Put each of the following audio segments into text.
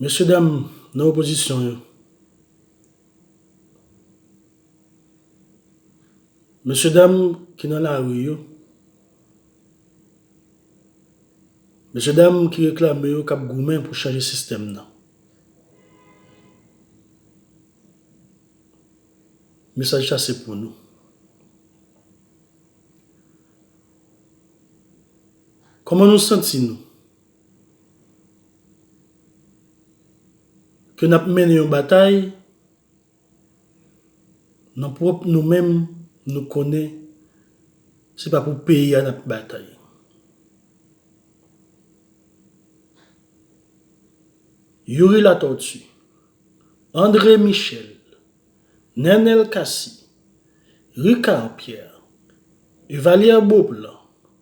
Mesye dam nan opozisyon yo. Mesye dam ki nan lari yo. Mesye dam ki reklame yo kap goumen pou chanje sistèm nan. Mesaj sa se pou nou. Kòman nou santi nou? Ke n ap mennen yon batay nan pwòp nou menm nou konnen se pa pou peyi a n ap batay. Youri Latortue, Andre Michel, Nenel Cassy, Ricard Pierre, Evalière Beauplan,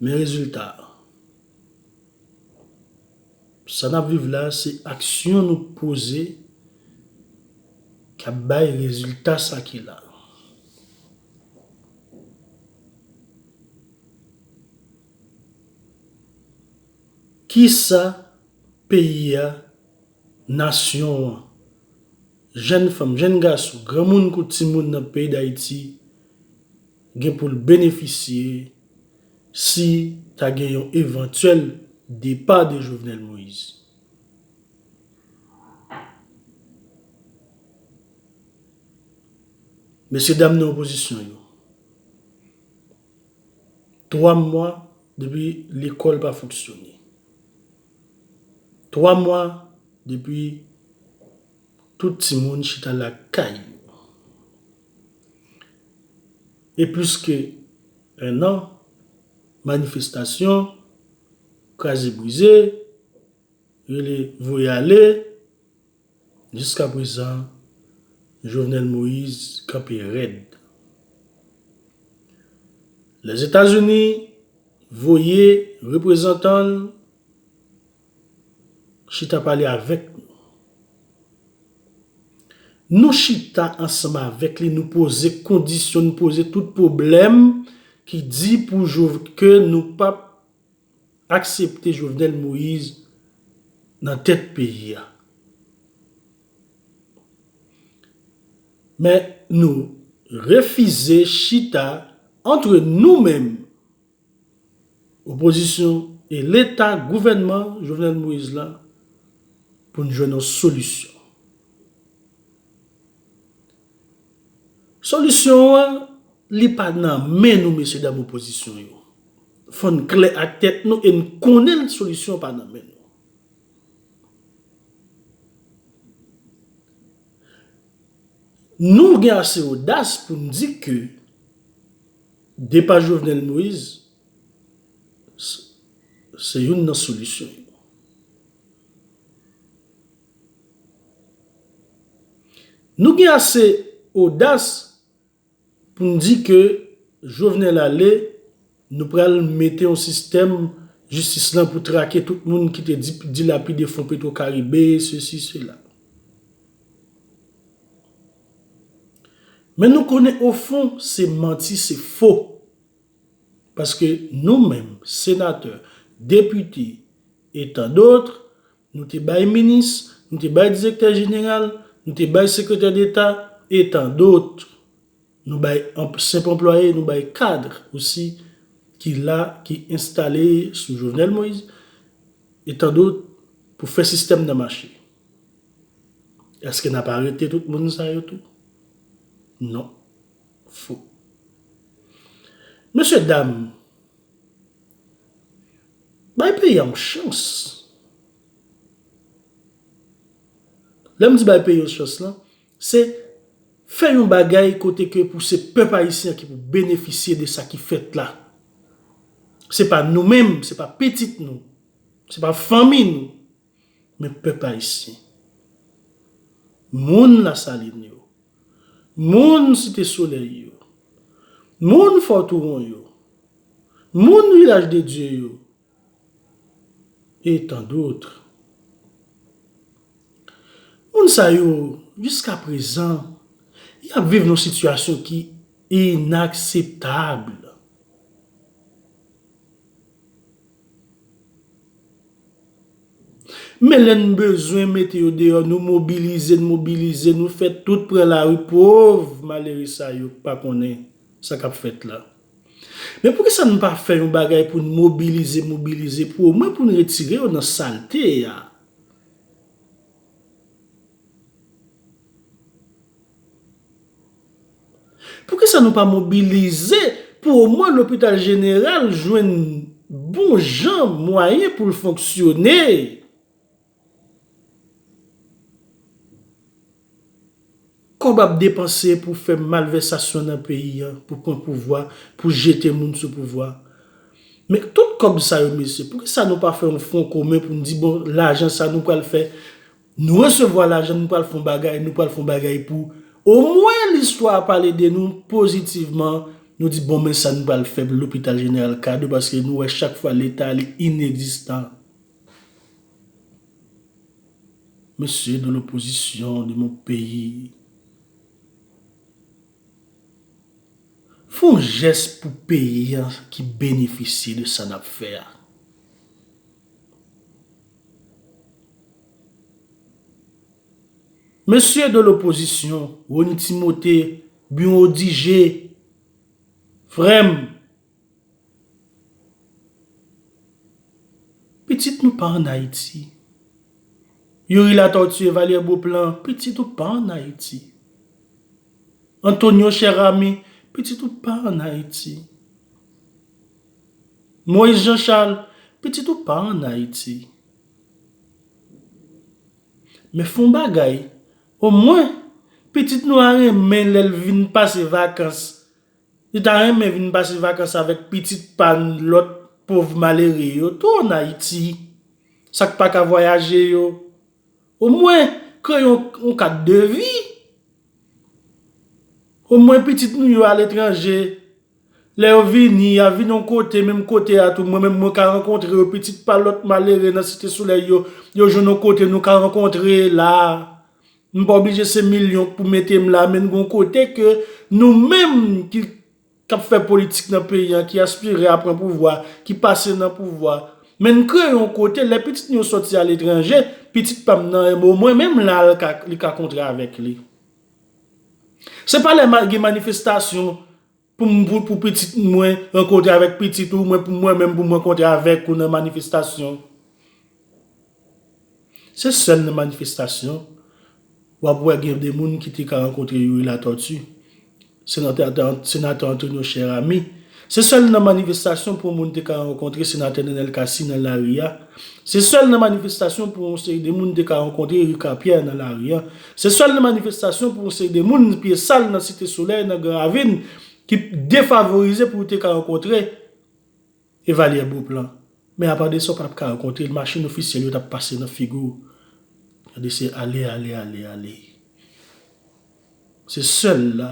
Men rezilta a. Sa n ap viv la a se aksyon nou poze k ap bay rezilta sa ki la a. Ki sa peyi a, nasyon an, jenn fanm, jenn gason, granmoun kou timoun nan peyi Dayiti. gen pou l benefisye si ta gen yon evantyèl depa de Jovenel Moïse. Mesye dam nan opozisyon yo, 3 mwa depi lekòl pa fonksyone, 3 mwa depi tout timoun chita lakay yo, E plis ke 1 an manifestasyon, kraze brize, rele voye ale, jiska prezan Jovenel Moïse kanpe rèd. Lèzetazini voye reprezantan l. Chita pale avèk nou. Nou chita ansanm avèk li nou poze kondisyon nou poze tout pwoblèm ki di pou ke nou pap aksepte Jovenel Moise nan tèt peyi a. Men nou refize chita antre nou menm. Opozisyon e leta gouvènman Jovenel Moïse la pou n jwenn yon solisyon. Solisyon an li pa nan men nou mesye dam opozisyon yo. Fò n klè ak tèt nou e n konnen solisyon an pa nan men nou. Nou gen ase odas pou n di ke. Depa Jovenel Moise se youn nan solisyon yo. Nou gen ase odas pou n di ke Jovenel ale, nou pral mete yon sistèm jistis lan pou trake tout moun ki te dilapide fon petwokaribe, sesi sela. Men nou konnen ofon se manti se fo. Paske nou menm senatè, depite e tan dotr nou te bay minis, nou te bay direktè jeneral, nou te bay sekretè deta e tan dotr. Nou bay senp anplwaye, nou bay kadr osi ki la ki enstale sou Jovenel Moïse e tan dotr pou fè sistèm nan mache. Eske nap arete tout moun sa yo tou? Non. Fo. Mesye dam, bay peyi a yon chans. Lè m di bay peyi yon chans lan, se fè yon bagay kote ke pou se pèp ayisyen ki pou benefisye de sa ki fèt la. Se pa nou menm, se pa pitit nou, se pa fanmi nou Men pèp ayisyen, moun Lasalin yo, moun Site Solèy yo, moun Fò Touwon yo, moun Vilaj de Dye yo, e tan doutre. Moun sa yo, jiska prezan, y ap viv nan sitiyasyon ki inakseptab. Men lè n bezwen mete yo deyò nou mobilize n mobilize nou fè tout pran lari pov malere sa yo k pa konnen sa kap fèt la. Men poukisa n pa fè yon bagay pou n mobilize mobilize pou omwen pou n retire yo nan salte a. Poukisa nou pa mobilize pou omwen lopital jeneral jwenn bon jan mwayen pou l fonksyone? Kòb ap depanse pou fè malvèsasyon nan peyi an, pou pran pouvwa, pou jete moun sou pouvwa. Men tout kòb sa yo mesye, poukisa nou pa fè yon fwon komen pou n di bon lajan sa nou pral fè? Nou resevwa lajan nou pral fon bagay nou pral fon bagay pou o mwen listwa pale de nou pozitivman nou di bon men sa nou pral fè pou lopital jeneral kado paske nou wè chak fwa leta li inegzistan mesye de lopozisyon de mon peyi fon jès pou peyi an ki benefisye de sa nap fè a. Mesye de lopozisyon, Rony Timote, Buon Odigé, frè m, pitit nou pa an Ayiti. Youri Latortue, Vallière Beauplan, pitit ou pa an Ayiti. Antonio Cheramy, pitit ou pa an Ayiti. Moïse Jean Charles, pitit ou pa an Ayiti. Men fon bagay, o mwen, pitit nou a renmen lè l vin pase vakans, li ta renmen vin pase vakans avèk pitit pa n lòt pov malere yo tou an Ayiti, sa k pa ka vwayaje yo. O mwen, kreye yon kad de vi. O mwen pitit nou yo aletranje. Lè yo vini, y ap vini yon kote, menm kote a tou mwen menm mwen ka rankontre yo, pitit pa lòt malere nan Site Solèy yo, yo jwenn yon kote nou ka rankontre la a. M pa oblije se milyon k pou mete m la, men n gen yon kote ke nou menm ki k ap fè politik nan peyi an, ki aspire a pran pouvwa, ki pase nan pouvwa, men n kreye yon kote, lè pitit nou yo sòti aletranje, pitit pa m nan, o mwen menm la li ka kontre avèk li. Se pa lè gen manifestasyon pou pitit mwen rankontre avèk pitit ou, mwen menm pou m rankontre avèk ou nan manifestasyon. Se sèl nan manifestasyon w ap wè gen de moun ki te ka rankontre Youri Latortue, Senatè Antonio Cher Ami. Se sèl nan manifestasyon pou yon moun te ka rankontre Senatè Nenel Cassy nan lari a. Se sèl nan manifestasyon pou yon seri de moun te ka rankontre Ricard Pierre nan lari a. Se sèl nan manifestasyon pou yon seri de moun pye sal nan Site Solèy, nan Gran Ravin, ki defavorize pou yo te ka rankontre Evalyè Beauplan. Men apa de sa ou pa t ka rankontre l, machin ofisyèl yo t ap pase nan figi w. Gade se ale, ale, ale, ale. Se sèl la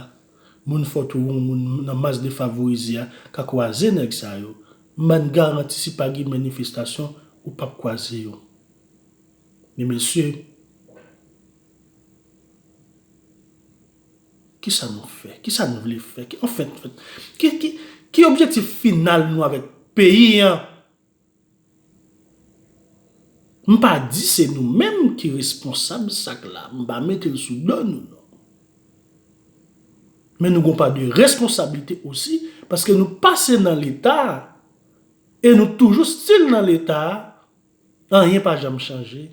moun fòt ou yon moun nan mas defavorize a ka kwaze nèg sa yo. M ba n garanti si pa gen manifestasyon ou pap kwaze yo. Men mesye, kisa nou fè? Kisa n vle fè? Anfen, ki objektif final nou avèk peyi an? M pa di se nou menm ki responsab sak la, m pa mete l sou do nou non. Men nou gon pa de responsablite osi paske nou pase nan leta e nou toujou stil nan leta anyen pa janm chanje.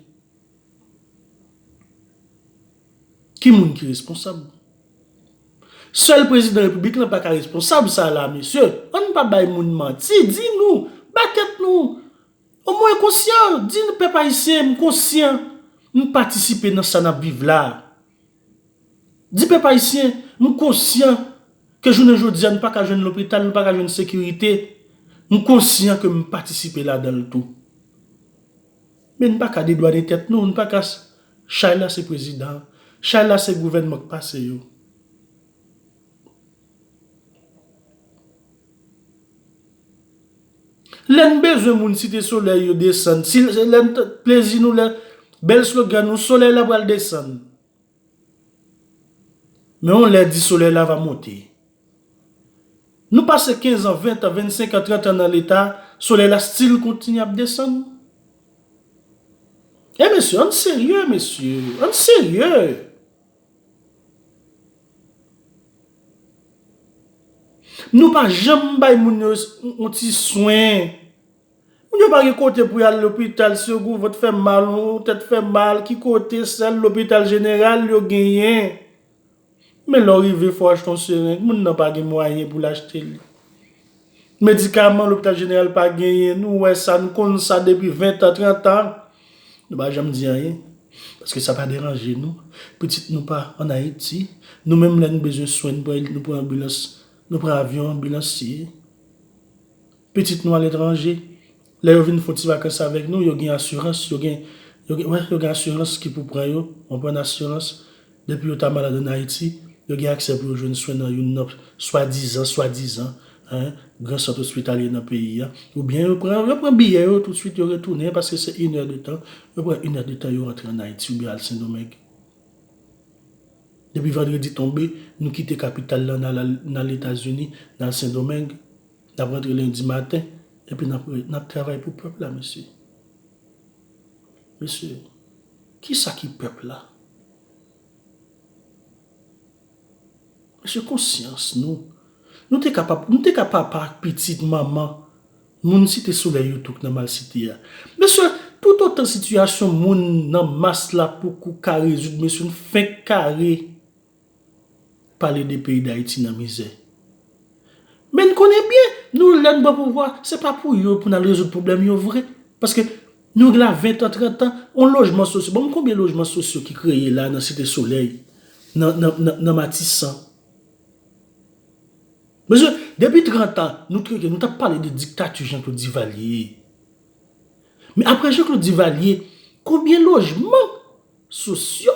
Ki moun ki responsab? Sèl prezidan repiblik lan paka responsab sa la mesye, ann pa bay moun manti, di nou, ba tèt nou o mwen konsyan, di nou pèp ayisyen m konsyan, m patisipe nan sa nap viv la, di pèp ayisyen m konsyan ke jounen jodi a nou paka jwenn lopital, nou paka jwenn sekirite, m konsyan ke m patisipe ladan l tou. Men n pa ka dedwane tèt nou, n pa ka Chay la se prezidan, chay la se gouvènman k pase yo. Lè n bezwen moun Site Solèy yo desann, si se lè n plezi nou, lè bèl slogan nou, Solèy la pral desann. Men yon lè di solèy la va monte. Nou pase 15 an, 20 an, 25 an, 30 an nan leta, solèy la stil kontinye ap desann. E mesye, ann serye mesye, ann serye. Nou pa janm bay moun yo yon ti swen. Moun yo pa gen kote pou yal lopital segou vant fè mal ou tèt fè mal ki kote sèl lopital jeneral yo genyen men lè w rive fò achte yon sereng moun nan pa gen mwayen pou l achte li medikaman lopital jeneral pa genyen nou wè sa nou konn sa depi 20 tan 30 tan nou pa janm di anyen paske sa pa deranje nou pitit nou pa an ayiti nou menm lè nou bezwen swen nou pran anbilans nou pran avyon anbilansye. Pitit nou aletranje, lè yo vin fon ti vakans avèk nou, yo gen asirans, yo gen, yo gen, wè, yo gen asirans ki pou pran yo, konprann, asirans, depi yo ta malad ann Ayiti, yo gen aksè pou yo jwenn swen nan youn nan swadizan, swadizan, hein, gran sant ospitalye nan peyi a, oubyen yo pran, yo pran biyè yo toutswit, yo retounen, paske se in è de tan, yo pran in è de tan, yo rantre ann Ayiti oubyen al Sendomeng. Depi vandredi tonbe, nou kite kapital la, n al, n al Etazini, n al Sendomeng. Nap rantre lendi maten epi nap travay pou pèp la mesye. Mesye, kisa ki pèp la? Mesye konsyans nou, nou te ka papa, nou te ka papa ak pitit, manman, moun site solèy yo tou k nan malsite a. Mesye, tout otan sitiyasyon moun nan mas la poko ka rezoud mesye n fenk kare. pale de peyi dayiti nan mizè. Men n konnen byen nou lè n pran pouvwa se pa pou yo pou n al rezoud pwoblèm yo vre. Paske nou gen la ventan trantan on lojman sosyo banm konbyen lojman sosyo ki kreye la nan site solèy nan matisan. Mesye depi trantan nou trete nou tap pale de diktati jan klod divalye. Men apre jan klod divalye konbyen lojman sosyo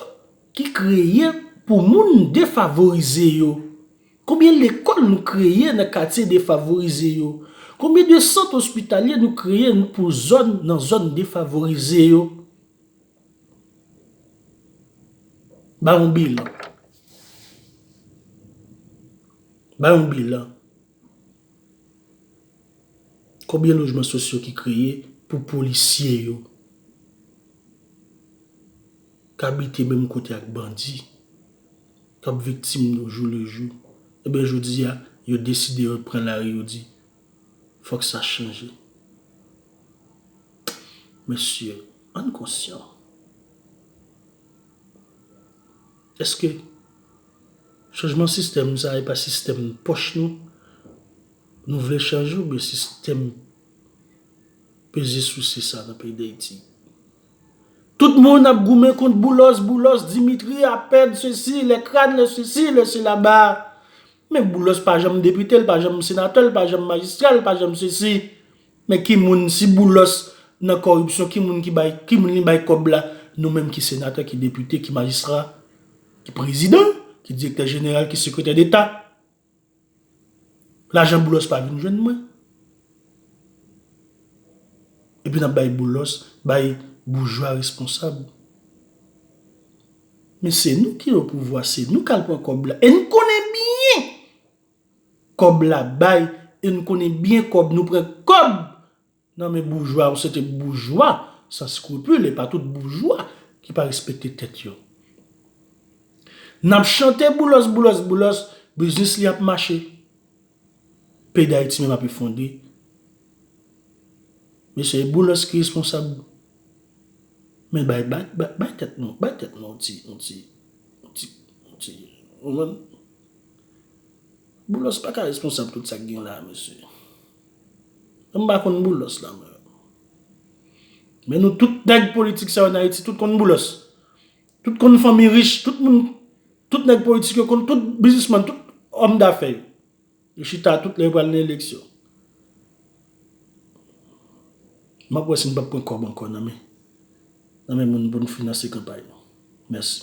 ki kreye pou moun defavorize yo? Konbyen lekòl nou kreye nan katye defavorize yo? Konbyen de sant ospitalye nou kreye pou zòn nan zòn defavorize yo? Ba yon bilan. Ba yon bilan. Konbyen lojman sosyo ki kreye pou polisye yo? k abite menm kote ak bandi k ap viktim nou jou le jou ebyen jodi a yo deside yo pran lari yo di fòk sa chanje mesye ann konsyan eske chanjman sistèm sa e pa sistèm pòch nou nou vle chanje oubyen sistèm peze souse sa nan peyi dayiti. Tout moun ap goumen kont Boulos, Boulos, Dimitri, Apèd, sesi, lè kran, lè sesi, lè sela ba. Men Boulos pa janm depite, l pa janm senatè, l pa janm majistra, l pa janm sesi. Men ki moun, si Boulos nan kòripsyon, ki moun ki bay, ki moun li bay kòb la? Nou menm ki senatè, ki depite, ki majistra, ki prezidan, ki direktè jeneral, ki sekretè deta. Lajan boulos pa vin jwenn mwen. Epi nap bay boulos, bay boujwa responsab. Men se nou ki o pouvwa, se nou kal pran kob la. E nou konnen byen kob la bay, e nou konnen byen kob nou pran kob Nan men boujwa yon sete boujwa san skrupul e pa tout boujwa ki pa respekte tèt yo. Nap chante boulos boulos boulos biznis li ap mache. Peyi dayiti menm ap efondre. Mesye e boulos ki responsab men bay bay tèt nou bay tèt nou yon ti yon ti yon ti yon ti ou konprann. Boulos paka responsab tout sak gen la mesye. M pa konn Boulos la mwen. Men nou tout nèg politik sa yo nan Ayiti tout konn Boulos. Tout konn fanmi rich, tout moun, tout nèg politik yo konn tout bizisman, tout òm dafè yo. Yo chita tout lè yo pral nan eleksyon. M ap wè si m pap pran kòb ankò nan men moun pou n finanse kanpay nou. Mèsi.